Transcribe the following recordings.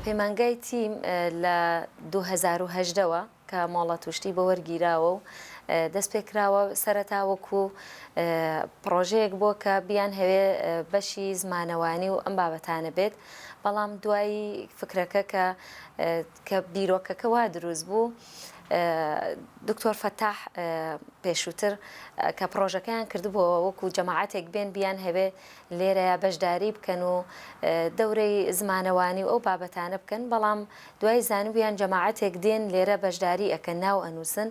پەیمانگای تیم لە دوو هەزار و هەژدە وە کە مۆڵەت و شتی بۆ وەرگیراوە و دەست پێ کراوە سەرەتا وەکو پڕۆژەیەک بۆ کە بیان هەوێ بەشی زمانەوانی و ئەم بابەتانە بێت بەڵام دوای فکرەکە کە کە بیرۆکەکە وا دروست بوو دکتۆر فەتاح پێشووتر کە پرۆژەکەیان کردبووەوە وەکو جەماعاتێک بێن بیان هەوێ لێرەیە بەشداری بکەن و دەورەی زمانەوانی و ئەو بابەتانە بکەن بەڵام دوای زانبوویان جەماعاتێک دێن لێرە بەشداری ئەکە ناو ئەنووسن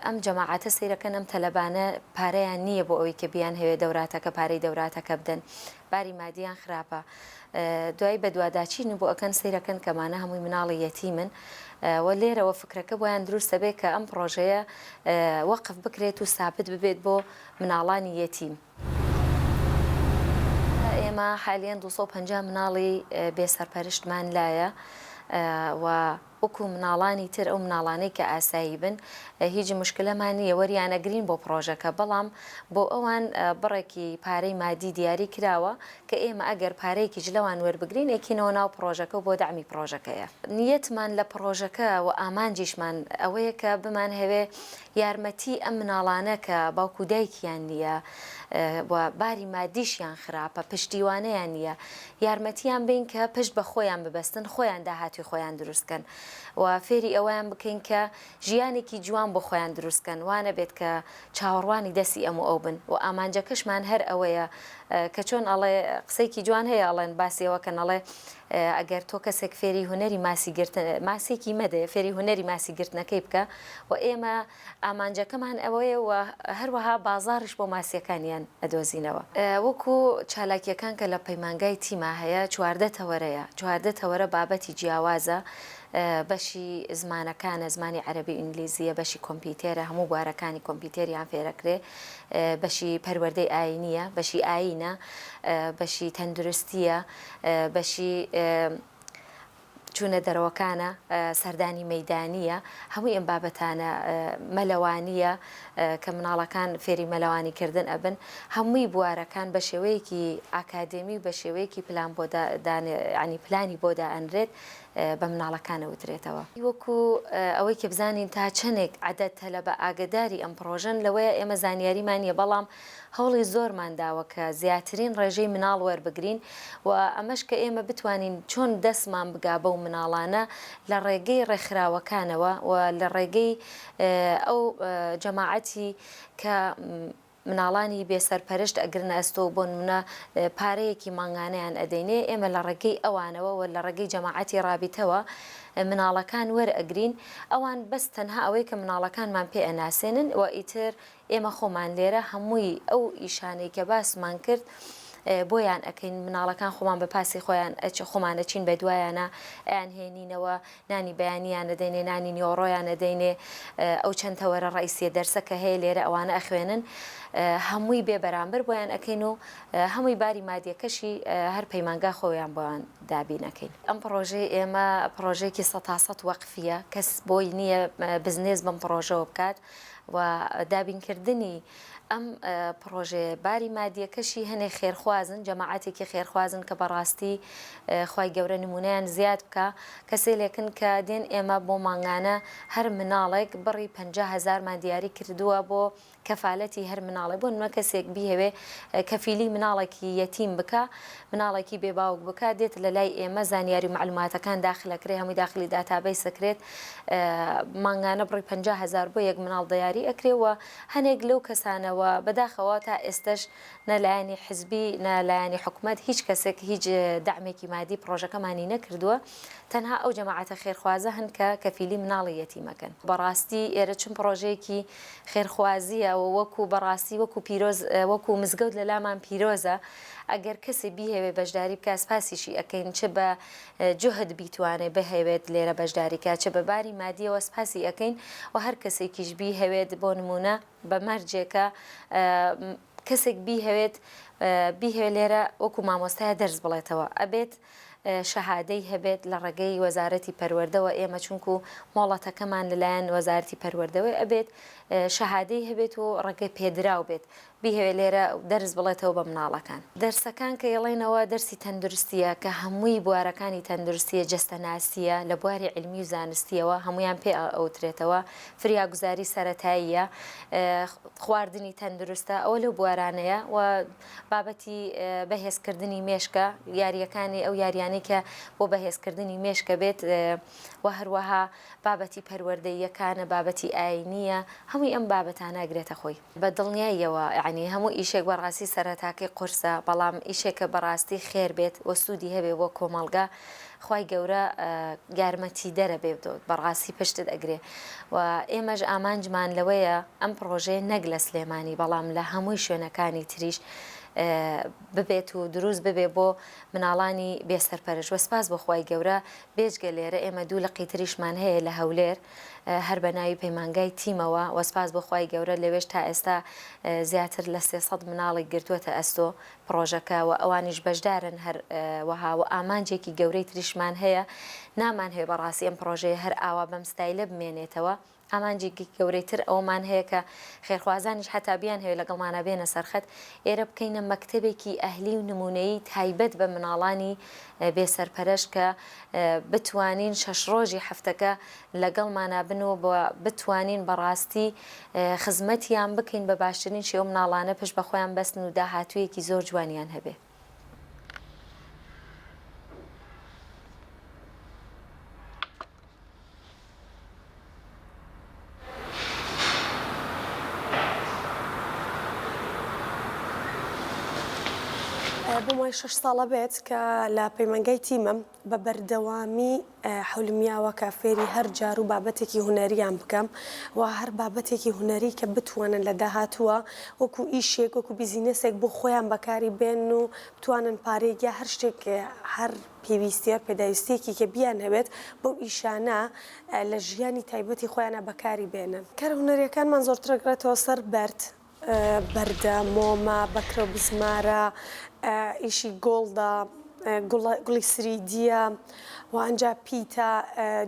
ئەم جەماعاتە سیرەکەن ئەم تەلەبانە پارەیان نییە بۆ ئەوی کە بیان هەوێ دەوراتەکە پارەی دەوراتەکە بدەن باری مادیان خراپە دوای بەدواداچین و بۆ ئەکەن سەیرەکەن کەمانە هەمووی مناڵی یەتیمن و لێرەوە فکرەکە بۆیان دروستە بێ کە ئەم پرۆژەیە وەقف بکرێت و سابت ببێت بۆ مناڵانی یەتیم. ئێمە حالیان 250 مناڵی بێ سەرپەرشتمان لایە و وەکو مناڵانی تر ئەو مناڵانەی کە ئاسایی بن هیج مشکلەمان نیە وەریان ئەگرین بۆ پڕۆژەکە بەڵام بۆ ئەوان بڕێکی پارەی مادی دیاری کراوە کە ئێمە ئەگەر پارەیەکیش لەوان وەربگرین ئەکینەوە ناو پڕۆژەکە و بۆ دەعمی پڕۆژەکەیە نیەتمان لە پڕۆژەکە و ئامانجیشمان ئەوەیە کە بمانهەوێ یارمەتی ئەم مناڵانە کە باوک و دایکیان نیە و باری مادیشیان خراپە پشتیوانیان نیە یارمەتیان بین کە پشت بە خۆیان ببەستن خۆیان داهاتوی خۆیان دروست کەن و فێری ئەوەیان بکەین کە ژیانێکی جوان بۆ خۆیان دروست کەن وانەبێت کە چاوەڕوانی دەستی ئەم و ئەو بن و ئامانجەکەشمان هەر ئەوەیە کە چۆن ئەڵێ قسەیەکی جوان هەیە ئەڵێن باسی ئەوەکەن ئەڵێ ئەگەر تۆ کەسێک فێری هونەری ماسی گرتن، ماسێکی مەدەیە فێری هونەری ماسی گرتنەکەی بکە و ئێمە ئامانجەکەمان ئەوەیە و هەروەها بازاڕیش بۆ ماسییەکانیان ئەدۆزینەوە. وەکو چالاکییەکان کە لە پەیمانگای تیما هەیە چواردە تەوەرەیە، چواردە تەوەرە بابەتی جیاوازە، بەشی زمانەکانە، زمانی عەرەبی و ئینگلیزییە، بەشی کۆمپیتێرە، هەموو بوارەکانی کۆمپیتێریان فێر ئەکرێ، بەشی پەروەردەی ئایینییە، بەشی ئایینە، بەشی تەندروستییە، بەشی چوونە دەرەوەکانە، سەردانی مەیدانییە، هەمووی ئەم بابەتانە، مەلەوانییە کە مناڵەکان فێری مەلەوانی کردن ئەبن، هەمووی بوارەکان بە شێوەیەکی ئاکادێمی و بە شێوەیەکی پلان بۆ دان یانی پلانی بۆ دائەنرێت بە مناڵەکان ئەوترێتەوە. وەکو ئەوەی کە بزانین تا چەندێک عەدەد تەلەبە ئاگەداری ئەم پڕۆژەن لەوەیە ئێمە زانیاریمان نییە بەڵام هەوڵی زۆرمان داوە کە زیاترین ڕێژەی مناڵ وەربگرین و ئەمەش کە ئێمە بتوانین چۆن دەستمان بگا بەو مناڵانە لە ڕێگەی ڕێکخراوەکانەوە و لە ڕێگەی ئەو جەماعەتی کە مناڵانی بێ سەرپەرشت ئەگرنە ئەستۆ و بۆنمونە پارەیەکی مانگانەیان ئەدەینێ ئێمە لە ڕێگەی ئەوانەوە و لە ڕێگەی جەماعەتی ڕابیتەوە مناڵەکان وەرئەگرین ئەوان بەس تەنها ئەوەی کە مناڵەکانمان پێ ئەناسێنن و ئیتر ئێمە خۆمان لێرە هەمووی ئەو ئیشانەی کە باسمان کرد بۆیان ئەکەین مناڵەکان خۆمان بە پاسی خۆیان ئەچ خۆمانە چین بە دوایانە ئەیان هێنینەوە نانی بەیانیانە دەینێ نانی نیۆڕۆیانە دەینێ ئەو چەند تەوەرە ڕیسیە دەرسە کە هەیە لێرە ئەوانە ئەخوێنن هەمووی بێ بەرامبەر بۆیان ئەەکەین و هەمووی باری مادیەکەشی هەر پەیمانگا خۆیان بۆیان دابینەکەین ئەم پرۆژەی ئێمە پرۆژێکی سە تاسەد وەقفە کەس بۆی نییە بزنێز بم پرۆژەوە بکات و دابینکردنی ئەم پڕۆژەیە باری مادیەکەشی هەنێ خێرخوازن جەماعەتێکی خێرخوازن کە بەڕاستی خی گەورە نمونیان زیاد بکە کەسێ لێکن کە دێن ئێمە بۆ مانگانە هەر مناڵێک بڕی پ هزارمان دیاری کردووە بۆ کەفاالەتی هەر مناڵێ بۆ نمە کەسێک بیهوێ کەفیلی مناڵێکی یەتیم بکە مناڵێکی بێباوک بکە دێت لە لای ئێمە زانیاری معلوماتەکان داخلەکرێ هەمووی داخلی داتابەی سەکرێت مانگانە بڕی پەنجا هەزار بۆ یەک مناڵ دەیاری ئەکرێ و هەنێک لەو کەسانە و بەداخەوە تا ئێستەش نە لایەنی حزبی نە لایەنی حکومەت هیچ کەسێک هیچ دەعمێکی مادی پڕۆژەکەمانی نەکردووە تەنها ئەو جەماعەتە خێرخوازە هەن کە کەفیلی مناڵی یەتیمەکەن بەڕاستی ئێرە چون پڕۆژەیەکی خێرخوازیە و وەکو بەڕاستی وەکو پیرۆز وەکو مزگەوت لەلامان پیرۆزە ئەگەر کەسێ بیهەوێ بەشداری بکە سپاسیشی ئەکەین چ بە جوهد بیتوانێ بهەوێت لێرە بەشداری کا چ بە باری مادیەوە سپاسی ئەکەین و هەر کەسێکیش بیهەوێت بۆ نمونە بە مەرجێکە کەسێک بیهەوێت بیهەوێت لێرە وەکو مامۆستایە دەرس بڵێتەوە ئەبێت شەهادەی هەبێت لە ڕێگەی وەزارەتی پەروەردەوە ئێمە چونکو مۆڵەتەکەمان لەلایەن وەزارتی پەروەردەوەی ئەبێت شەهادەی هەبێت و ڕێگەی پێدراو بێت بیهەوێ لێرە دەرس بڵێتەوە بە مناڵەکان. دەرسەکان کە یڵێنەوە دەرسی تەندروستیە کە هەمووی بوارەکانی تەندروستیە جەستەناسیە لە بواری عیلمی و زانستیەوە هەموویان پێ ئەوترێتەوە فریاگوزاری سەرەتاییە خواردنی تەندروستە ئەوە لەو بوارانەیە و بابەتی بەهێز کردنی مێشکە یاریەکانی ئەو یاریانی کە بۆ بەهێز کردنی مێشکە بێت و هەروەها بابەتی پەروەردەییەکانە بابەتی ئاینیە هەمووی ئەم بابەتانە گرێتە خۆی. بە دڵنیاییەوە یەعنی هەموو ئیشێک بەڕاستی سەرەتاکەی قورسە بەڵام ئیشێکە بەڕاستی خێر بێت و سوودی هەبێ بۆ کۆمەڵگا خوای گەورە یارمەتیدەرە بێت و بەڕاستی پشتت ئەگرێ و ئێمەش ئامانجمان لەوەیە ئەم پڕۆژەیە نەک لە سلێمانی بەڵام لە هەمووی شوێنەکانی تریش ببێت و دروست ببێ بۆ مناڵانی بێ سەرپەرش وە سپاس بۆ خوای گەورە بێجگە لێرە ئێمە دوو لقی تریشمان هەیە لە هەولێر هەر بە ناوی پەیمانگای تیمەوە وە سپاس بۆ خوای گەورە لەوێش تا ئێستا زیاتر لە سێ سەد مناڵێک گرتووەتە ئەستۆ پڕۆژەکە وە ئەوانیش بەشدارن هەر وەها وە ئامانجێکی گەورەی تریشمان هەیە نامانهەوێ بەڕاستی ئەم پڕۆژەیە هەر ئاوا بەم ستایلە بمێنێتەوە ئامانجێکی گەورەی تر ئەوەمان هەیە کە خێرخوازانیش حەتا بیانهەوێ لەگەڵمانا بێنە سەرخەت ئێرە بکەینە مەکتەبێکی ئەهلی و نموونەیی تایبەت بە مناڵانی بێ سەرپەرەش کە بتوانین شەش ڕۆژی هەفتەکە لەگەڵمانا بن و بتوانین بەڕاستی خزمەتیان بکەین بە باشترین شێوە مناڵانە پشت بە خۆیان بەستن و داهاتوویەکی زۆر جوانیان هەبێ. بۆم وای شەش ساڵە بێت کە لە پەیمانگای تیمم بە بەردەوامی حولمیاوە کە فێری هەر جار و بابەتێکی هوەریان بکەم و هەر بابەتێکی هوەری کە بتوانن لە داهاتووە وەکو ئیشێک وەکو بیزینەسێک بۆ خۆیان بەکاری بێن و توانن پارێکیا هەر شتێک هەر پێویستیە پێداویستیەکی کە بیان هەوێت بەو ئیشانە لە ژیانی تایبەتی خۆیانە بەکاری بێنن. کارە هونەریەکانمان زۆرتر ئەگرێتەوە سەر بەرد، بەردە، مۆمە، بەکرە و بزمارە، ئیشی گۆڵدە، گوڵی سریدیە و ئەنجا پیتە،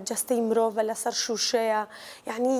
جەستەی مرۆڤە لەسەر شوشەیە یانی.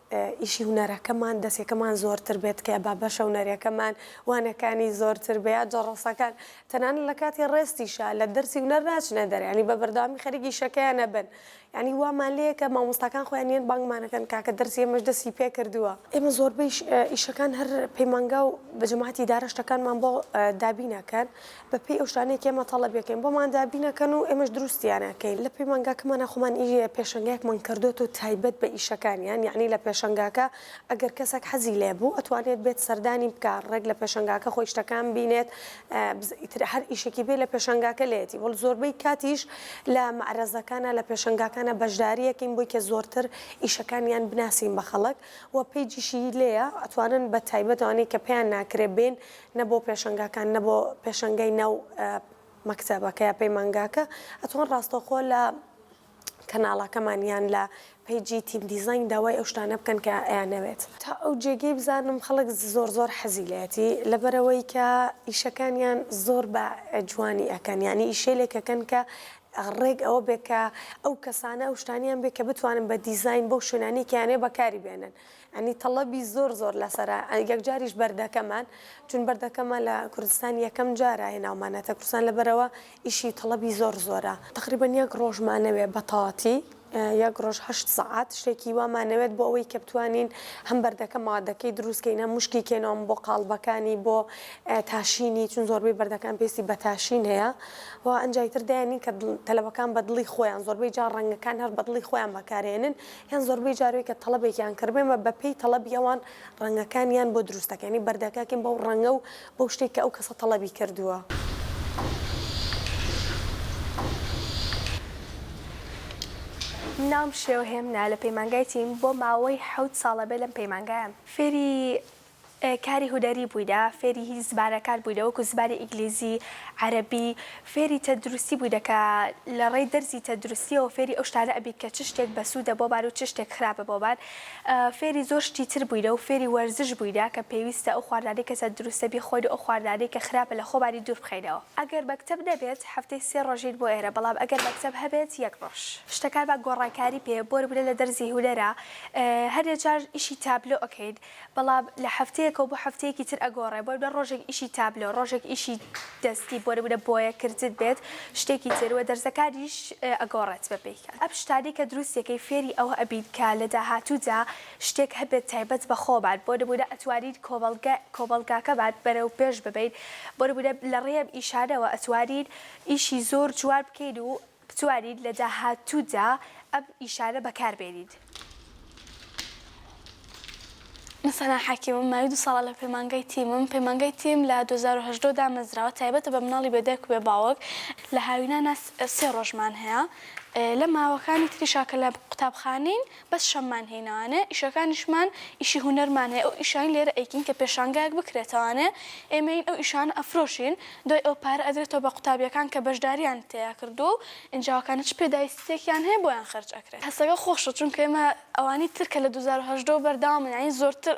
ئیشی هونەرەکەمان دەسێکەمان زۆرتر بێت تکایە با بەشە هونەریەکەمان وانەکانی زۆرتر بێ یا جەڕەسەکان تەنانەت لە کاتی ڕێستیشا لە دەرسی هونەر ناچنە دەرێ یانی بە بەردەوامی خەریک ئیشەکەیان ئەبن یانی وامان لێیە کە مامۆستاکان خۆیان نیەن بانگمان ئەکەن کاکە دەرسی ئێمەش دەستی پێ کردووە ئێمە زۆربەیش ئیشەکان هەر پەیمانگا و بە جەماعەتی ئیدارە شتەکانمان بۆ دابین ئەکەن بەپێی ئەو شتانەی کە ئێمە تەڵەبی ئەکەین بۆمان دابین ئەکەن و ئێمەش دروستیان ئەکەین لە پەیمانگاکەمانا خۆمان ئی پێشەنگایەکمان کردۆتەوە تایبەت بە ئیشەکانیان یەعنی لە پێشەنگاکە ئەگەر کەسێک حەزی لێ بوو ئەتوانێت بێت سەردانی بکا ڕێک لە پێشەنگاکە خۆی شتەکان بینێت بز ئیتر هەر ئیشێکی بێ لە پێشەنگاکە لێتی وەڵ زۆربەی کاتیش لە مەعرەزەکانە لە پێشەنگاکانە بەشداری ئەکەین بۆی کە زۆرتر ئیشەکانیان بناسین بە خەڵک و پەیجیشی لێیە ئەتوانن بە تایبەت ئەوانەی کە پێیان ناکرێ بێن نە بۆ پێشەنگاکان نە بۆ پێشەنگەی ناو مەکتەبەکە یا پەیمانگاکە ئەتوان ڕاستەوخۆ لە کەناڵەکەمان یان لە پەیجی تیم دیزاین داوای ئەو شتانە بکەن کە ئەیانەوێت. تا ئەو جێگەی بزانم خەڵک زۆر زۆر حەزی لێتی لەبەرئەوەی کە ئیشەکانیان زۆر بە جوانی ئەکەن یانی ئیشەیلێک ئەکەن کە ڕێک ئەوە بێ کە ئەو کەسانە ئەو شتانیان بێ کە بتوانن بە دیزاین بەو شوێنانەی کە یانەوێ بەکاری بێنن. یانی تەڵەبی زۆر زۆر لەسەرە یەکجاریش بەردەکەمان چون بەردەکەمان لە کوردستان یەکەم جارە هێناومانەتە کوردستان لەبەرەوە ئیشی تەڵەبی زۆر زۆرە تەقریبەن یەک ڕۆژ مانەوێ بەتەواتی یەک ڕۆژ هەشت سەعات شتێکی وا مانەوێت بۆ ئەوەی کە بتوانین هەم بەردەکە مادەکەی دروست کەین هەم مشکی کێنەوەم بۆ قاڵبەکانی بۆ تاشینی چون زۆربەی بەردەکان پێستی بە تاشین هەیە و ئەنجای تر دایانی کە تەلەبەکان بە دڵی خۆیان زۆربەی جا ڕەنگەکان هەر بە دڵی خۆیان بەکارێنن یان زۆربەی جاروی کە تەڵەبێکیان کردبێمە بە پێی تەڵەبی ئەوان ڕەنگەکانیان بۆ دروست دەکەین یانی بەردەکاکەین بەو ڕەنگە و بەو شتەی کە ئەو کەسە تەڵەبی کردووە. ناوم شێوهێمنە لە پەیمانگای تیم بۆ ماوەی حەوت ساڵە بێ لەم پەیمانگایەم فێری کاری هونەری بووینە، فێری هی زمانەکان بووینە وەکو زمانی ئینگلیزی، عەرەبی، فێری تەندروستی بووینە کە لە ڕێی دەرزی تەندروستیەوە فێری ئەو شتانە ئەبین کە چ شتێک بەسوودە بۆمان و چ شتێک خراپە بۆمان، فێری زۆر شتی تر بووینە و فێری وەرزش بووینە کە پێویستە ئەو خواردنانەی کە تەندروستە بیخۆین و ئەو خواردنانەی کە خراپە لە خۆمانی دوور بخەینەوە. ئەگەر مەکتەب نەبێت هەفتەی سێ ڕۆژین بۆ ئێرە بەڵام ئەگەر مەکتەب هەبێت یەک ڕۆژ. شتەکانمان گۆڕانکاری پێ بۆ نمونە لە دەرزی هونەرا هەنێ جار ئیشی تابلۆ ئەکەین بەڵام لە هەفتەیەکەوە بۆ هەفتەیەکی تر ئەگۆڕێ بۆ نمونە ڕۆژێک ئیشی تابلۆ ڕۆژێک ئیشی دەستی بۆ نمونە بۆیە کردن بێت شتێکی تر وە دەرزەکانیش ئەگۆڕێت بە پێی کات ئەم شتانەی کە دروستی ئەکەین فێری ئەوە ئەبین کە لە داهاتوودا شتێک هەبێت تایبەت بە خۆمان بۆ نمونە ئەتوانین کۆمەڵگە کۆمەڵگاکەمان بەرەو پێش ببەین بۆ نمونە لە ڕێی ئەم ئیشانەوە ئەتوانین ئیشی زۆر جوان بکەین و بتوانیت لە داهاتوودا ئەم ئیشانە بەکاربێنیت. من سەنا حەکیمم، ماوی دوو ساڵە لە پەیمانگای تیمم. پەیمانگای تیم لە دوو هەزار و هەژدە دامەزراوە، تایبەتە بە مناڵی بێ دایک و بێ باوک. لە هاوینانا سێ ڕۆژمان هەیە، لە ماوەکانی تریشا کە لە قوتابخانەین، بەس شەممان هەی ناانێ ئیشەکانیشمان ئیشی هونەرمان هەیە ئەو ئیشانەی لێرە ئەیکین کە پێشانگایەک بکرێتەوانێ ئێمەین ئەو ئیشانە ئەفرۆشین دوای ئەوە پارە ئەدرێتەوە بە قوتابیەکان کە بەشداریان تێیا کردووە و ئینجاوەکانە چ پێدایستیەکیان هەیە بۆیان خەرج ئەکرێت هەستەکە خۆشە چونکە ئێمە ئەوانی تر کە لە دوو هەزار و هەژدە وە بەردەوامن یانی زۆرتر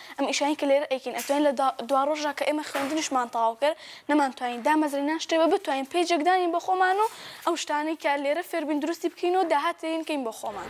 ئەم ئیشانەی کە لێرە ئەیکەین ئەتوانین لە دواڕۆژدا کە ئێمە خوێندنیشمان تەواو کرد نەمانتوانی دامەزرێنان شتێ بە بتوانین پەیجێک دانین بۆ خۆمان و ئەو شتانەی کە لێرە فێربووین دروستی بکەین و داهات لێی بکەین بۆ خۆمان.